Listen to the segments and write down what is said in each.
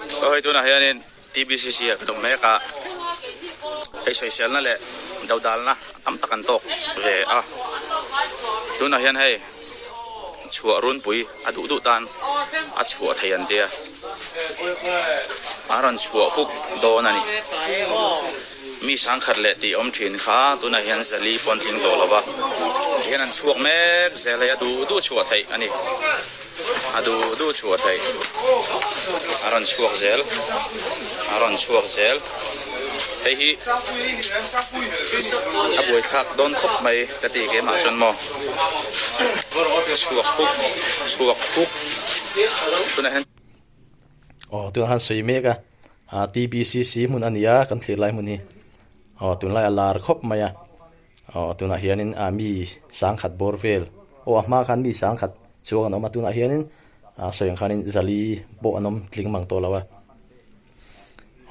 Sawi tunah hianin TBCC-a ka duh mek a, hei sawiselna leh dodalna tam tak an tawk ve a, tunah hian hei chhuah runpui a duh duh tan a chhuah thei an tia a rawn chhuah huk dawn a ni. Mi sangkhat leh tih awm thin kha tunah hian Zali pawn tling tawh lova ti hian an chhuak mek zel hei a duh duh chhuah theih a ni a duh duh chhuah theih a rawn chhuak zel a rawn chhuak zel hei hi a buaithlak dawn khawp mai ka ti ke mah chuan maw. Aw tunah han sawi mek a, ah TBCC hmun a ni a kan thlir lai hmun hi, aw tunlai a lar khawp mai a, aw tunah hianin ah mi sangkhat bawr vel, aw a hma khan mi sangkhat chuang an awm a, tunah hianin ah sawi ang khanin zali pawh an awm tling mang tawh lo a,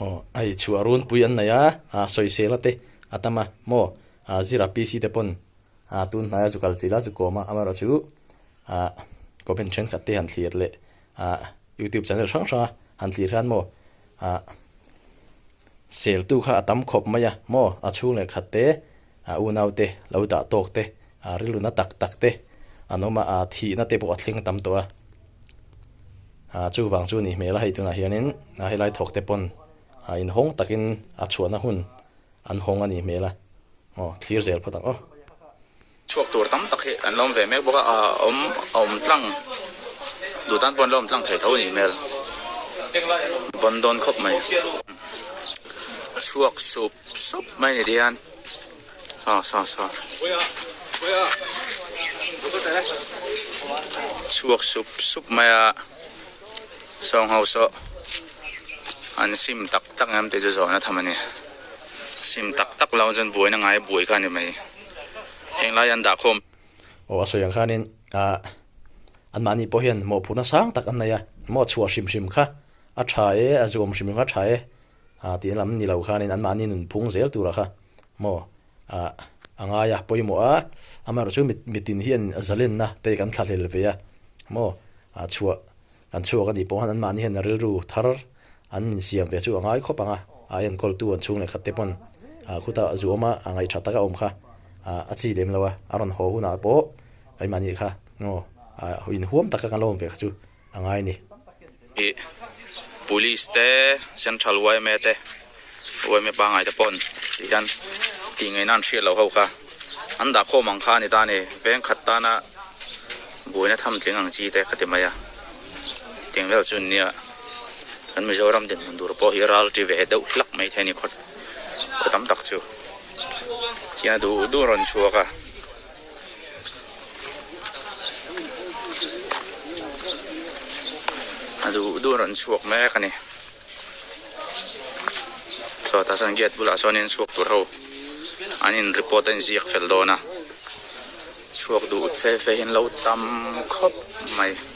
aw hei chhuah runpui an nei a, ah sawi sela te a tam a maw, ah zira PC te pawn. A tun hnaia chu kal chila chu kawma amaherawh chu ah comment thenkhat te han thlir leh ah youtube channel hrang hranga han thlir hian maw ah seltu kha a tam khawp mai a maw a chhung leh khat te ah unaute lo dah tawk te ah rilruna tak tak te an awm a ah thihna te pawh a thleng tam tawh a ah chuvang chu nih hmel a hei tunah hianin ah helai thawkte pawn ah inhawng takin a chhuahna hun An hawng anih hmel a, aw thlir zel phawt ang aw. Chhuak tur tam tak hi an la awm ve mek bawk a, a awm a awm tlang duh tan pawh an la awm tlang thei tho anih hmel. Ban dawn khawp mai. Chhuak sup sup mai ni dian. Sa sa sa. Chhuak sup sup mai a. Sawng ho sawh, an sim tak tak em tih chu zawhna tham a ni. Sim tak tak lo chuan buaina ngai buai kha a ni mai. Heng lai an dah khawm. Aw a sawi ang khanin ah anmahni pawh hian mawhphurhna sang tak an nei a, maw chhuah hrim hrim kha a tha e, a zuam hrim hrim kha a tha e ah tih an lam ni lo khanin anmahni nunphung zel turah kha maw ah a ngai a pawimawh a amaherawh chu mit mitin hian zalenna te kan thlahlel ve a maw ah chhuah kan chhuak a nih pawh han anmahni hian rilru thar an insiam ve chu a ngai khawp ang a a enkawltu an chhung lehkhatte pawn ah khuta zu awma a ngaihṭha taka awm kha ah a chi lem lo a a rawn haw hunah pawh kan mahni kha maw ah inhuam taka kan lo awm ve kha chu. a ngai ni. I Police te, Central yma te, yma pangngai te pawn tih hian tih ngaihna an hriat lo ho kha. An dah khawm ang kha a ni ta a ni. Veng khat tana buaina tham tling ang chi te ka ti mai a. Tiang vel chu nia kan Mizoram dinhmun tur pawh hi ral ti ve deuh hlak mai the a ni khaw tam tak chu. Tiang a duh duh rawn chhuak a. A duh duh a rawn chhuak mek a ni. Chhuatah chuan gate bulah chuan in chhuak tur ho an in report a in ziak fel dawn a. Chhuak duh fel feihin lo tam khawp mai.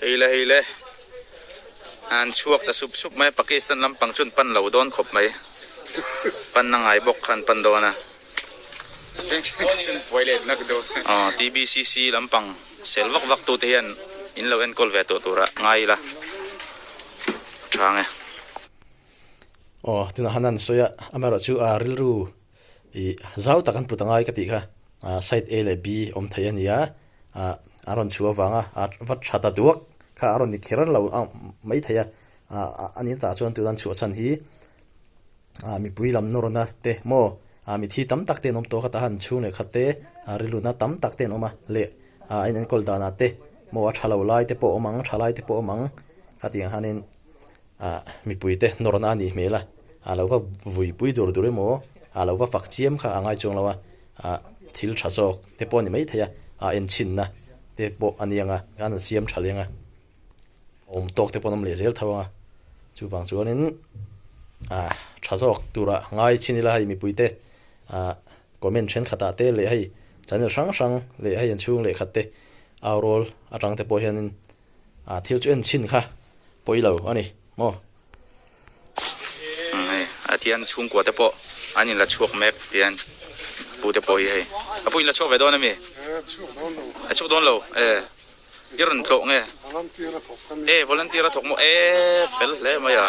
Hei le hei le. An chhuak ta sup sup mai. Pakistan lampang chuan pan lo dawn khawp mai. Pan na ngai bawk khan pan dawn a. Cheng cheng kha chuan buai let nak dawn a. Aw TBCC lampang sel vak vak tute hian in lo enkawl ve tawh tura ngai ila a thang e. Aw tunah han han sawi a. Amerawh chu aa rilru Ih zau tak an put angai ka tih kha side A leh B awm thei a nia ah an rawn chhu avang a ah va tha ta duak kha a rawn ni kher lo a mai thei a ah a nin tah chuan tun an chhuah chhan hi ah mipui lam nawrna te maw ah mithi tam tak ten awm tawh kha tah hian chhung leh khat te ah rilrutna tam tak ten awm a leh ah a in enkawl dan ah te maw a tha lo lai te pawh awm ang tha lai te pawh awm ang ka tih ang hian in ah mipuite nawrna a nih hmel a, a lo va vui pui dur dur emaw, a lo va fak chiam kha a ngai chuang lo a, ah thil tha zawk te pawh a ni maithei a, en chhinna te pawh a niang a, gan an siam tha leng a, a awm tawk te pawh an awm leh zel tho ang a, chuvang chuanin ah tha zawk tura ngai chin ila hei mipuite ah comment thenkhatah te leh hei channel hrang hrang leh hei an chhung lehkhat te aurawl atang te pawh hianin A thil chu en chin kha pawi lo a ni maw? Hei a thian chhungkua te pawh an in la chhuak mek tian pu te pawh hi hei a pu in la chhuak ve dawn a mi? A chhuak dawn lo e i rawn tlawh nge e volunteer a thawk maw e fel hle mai a.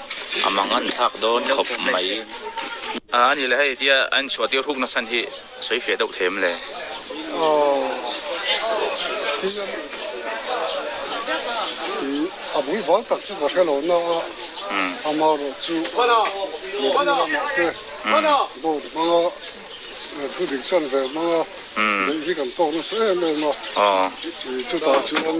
a mang a ni thlak dawn khawp mai. A ni le hei tia a inchhuah tir huk nasan hi a sawi fiah deuh thlem le. A bul bal tak chu ka hre lo nang a, ama rawh chu New Zealand ah te dawr hmang a thu dik chan ve hmang a, beih hi kan tawk nasa em em a, chutah chuan.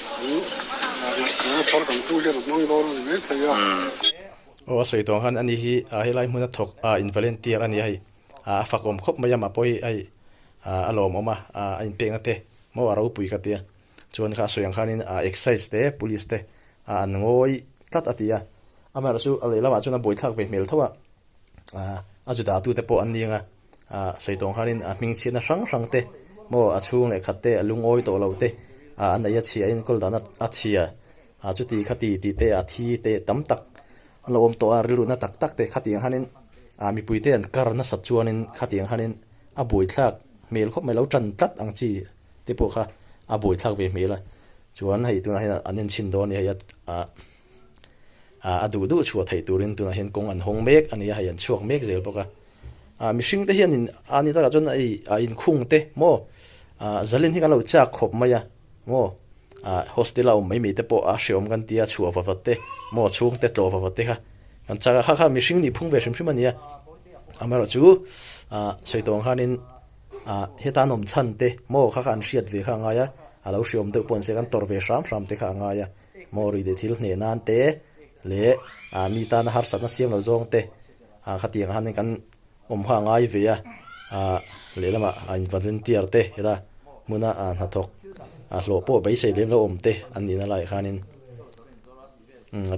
Aw a sawi tawng khan ani hi a helai hmun a thawk a in volunteer ania hei a fak awm khawp mai a mah pawh hi hei a lawm awm a a in pekna te maw a ropui ka tia chuan kha a sawi ang khan in a excise te police te a an ngawi tlat a tia amaherawhchu a lehlam ah chuan a bawithlak ve hmel tho a a zu datu te pawh an ni ang a. a sawihtawng khanin a hming chhiatna hrang hrang te maw, a chhung leh khat te a lungawi tawh lo te a neih a chhia, a inkawl dahna a chhia, a chuti khati ti te a thi te tam tak a lo awm tawh a, rilruhna tak tak te khati ang khanin a mipui te an kar nasat chuanin khati ang khanin a buaithlak hmel khawp mai, lo tan tlat ang chi te pawh kha a buaithlak ve hmel a, chuan hei tunah hian an en chhin dawn a nih hei a. a a duh duh chhuah theih turin tunah hian kawng an hawng mek a nia, hei an chhuak mek zel bawk a. A mihring te hian in a ni takah chuan ei a in khung te maw a Zalin hi kan lo chak khawp mai a maw a hostel a awm mai mai te pawh a hreawm kan tia chhuah va va te maw chhung te tlawh va va te kha kan chak a kha kha mihring nih phung ve hrim hrim a nia amaherawh chu a Saitawng khanin a heta nawm chhan te maw kha kha an hriat ve kha a ngai a a lo hreawm deuh pawh an sia kan tawrh ve hram hram te kha a ngai a. Mawri leh thil hneh nan te leh mi tana harsatna siam lo zawng te khatiang ah hian kan awm ha ngai ve a, lehlam ah a involunteer te ila hmun a hnathawk hlawh pawh beisei lem lo awm te an nih na lah hianin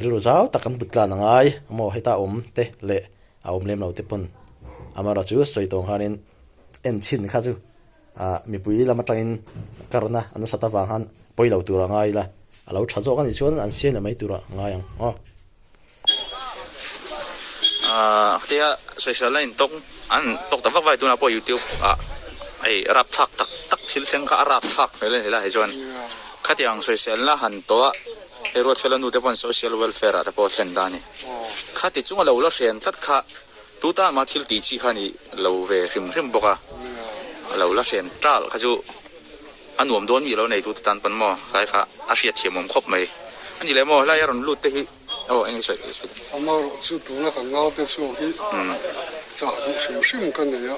rilru zau tak kan put tlan a ngai maw heta a awm te leh a awm lem lo te pawn Amara chu sawi tawng hianin en chhin kha chu. Mipui lam atangin karna an nasat avang khan pawi lo tur a ngai ila, a lo tha zawk a nih chuan an siam leh mai tur a ngai ang maw? Khtia social line tawk an tawk ta vak vak a ni tunah pawh youtube ah hei rapthlak tak tak thil thleng kha a rapthlak hmel a ni la hei chuan khatiang social na han tawh a hei ruatfela nute pawh social welfare ah te pawh a thlen ta a ni, khati chunga lo la hrian tlat kha Tuta ama thil tih chi kha a nih lo ve hrim hrim bawk a, a lo la hrem tal kha chu a nuam dawn mi a lo nei tute tan pawn maw tlai kha a hriat thiamawm khawp mai a ni leh maw helai a rawn lut te hi aw eng nge sawi sawi dawn. Amaherawhchu tuna kan ngaute chhuak hi chah duh hrim hrim ka nei a.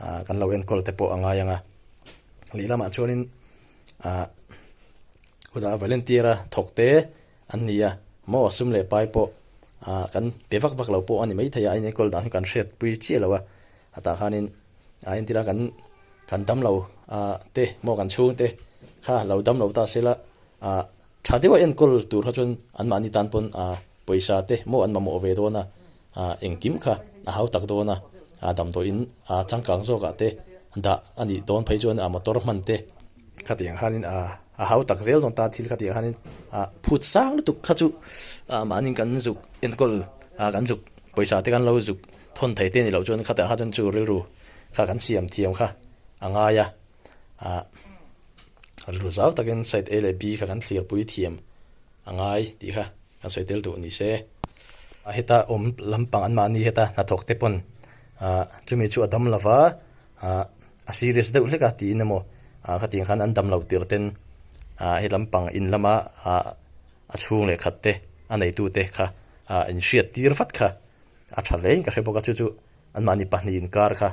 Ahh kan lo enkawl te pawh a ngai anga leh lamah chuanin ahh huda volunteer a thawk te an ni a maw a sum leh pai pawh ahh kan pe vak vak lo pawh a ni mai thei a in enkawl dan hi kan hriat pui chiah lo a a tah khanin ahh entira kan kan damlo ahh te maw kan chhungte kha lo damlo ta sela ahh. Tha deuha enkawl tur kha chuan anmahni tan pawn pawisa te maw an mamawh ve dawn a, engkim kha a hau tak dawn a, damdawiin changkang zawkah te dah a nih dawn phei chuan motor hman te kha tih ang khanin a hau tak zel dawn ta thil kha tih ang khanin phut sang lutuk kha chu mahni kan zuk enkawl kan zuk pawisa te kan lo zuk thawn thei te ni loh chuan khatiang kha chuan chu rilru kha kan siam thiam kha a ngai a. ah kan hlu zau takin side A leh B kha kan thlirpui thiam a ngai tih kha kan sawi tel duh ni se. A heta awm lampang an mahni heta hnathawk te pawn ah chumi chu a dam lo va, ah a serious deuh hlek a tiin emaw ah khatiang khan an dam lo tir ten ah he lampang in lama ah a chhung leh khat te a neitu te kha ah in hriat tir vat kha a tha hle in ka hre bawk a, chu chu an mahni pahnih inkar kha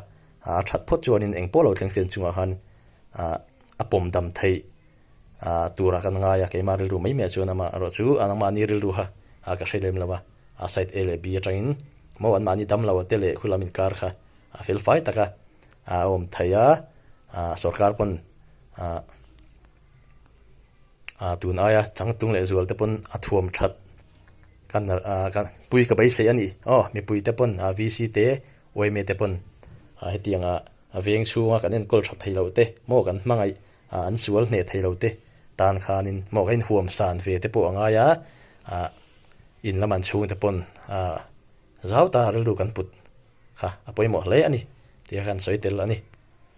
A that phawt chuanin eng pawh lo thlengsian chungah khan a pawm dam theih tura kan ngai a, keimah rilru mai maiah chuan amah erawh chu anmahni rilru kha ka hre lem lo a, side A leh B atangin maw anmahni damlo te leh khulam inkar kha a felfai taka a awm thei a, sorkar pawn tun aia changtlung leh zual te pawn a thuam that kan pui ka beisei a ni aw mipui te pawn VC te Uaime te pawn hetiang ah veng chhunga kan enkawl tha thei loh te, maw kan hmangaih an sual hneh thei lo te tan khan in maw ka inhuam san ve te pawh a ngai a, in lam an chhung te pawn zau ta rilru kan put kha a pawimawh hle a ni tih kha kan sawi tel a ni.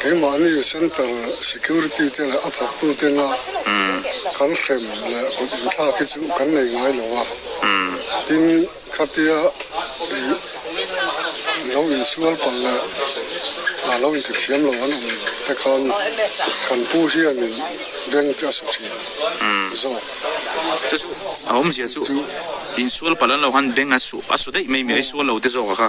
Keimahni Centre Security te leh a phaktute nga kan hrem leh kut inthlak hi chu kan nei ngai lo a, tin khatia i lo insual palh leh a lo inthiamthiam lo an awm te khan kan pu hianin bank te a saw thin zawk. Chu chu a awmzia chu insual palh an lo han bank a saw a saw daih mai mi a i sual lo te zawk a kha.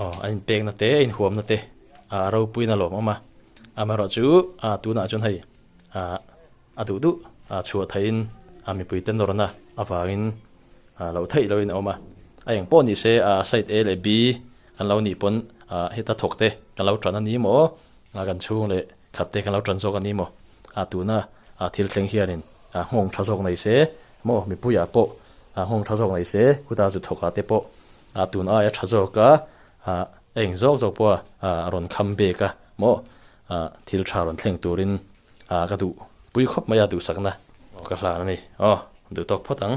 Aw a in pek na te a in huam na te ah ropuiin a lawm awm a, amaherawh chu ah tunah chuan hei ah a duh duh ah chhuah theih in ah mipui ten lawr na avangin ah loh theih lohin a awm a, a eng pawh ni se ah side A leh B kan lo nih pawn ah heta thawk te kan lo tan a ni maw ah kan chhung leh khat te kan lo tan zawk a ni maw ah tuna ah thil thleng hianin ah nghawng tha zawk nei se maw mipuiah pawh ah nghawng tha zawk nei se khuta zu thawk ah te pawh A tun aia tha zawk a, ah, eng zawk zawk pawha ah a rawn kham bek a maw, ah, thil tha rawn thleng turin ah ka duh pui khawp mai a duhsakna ka hlan a ni aw, duh tawk phawt ang.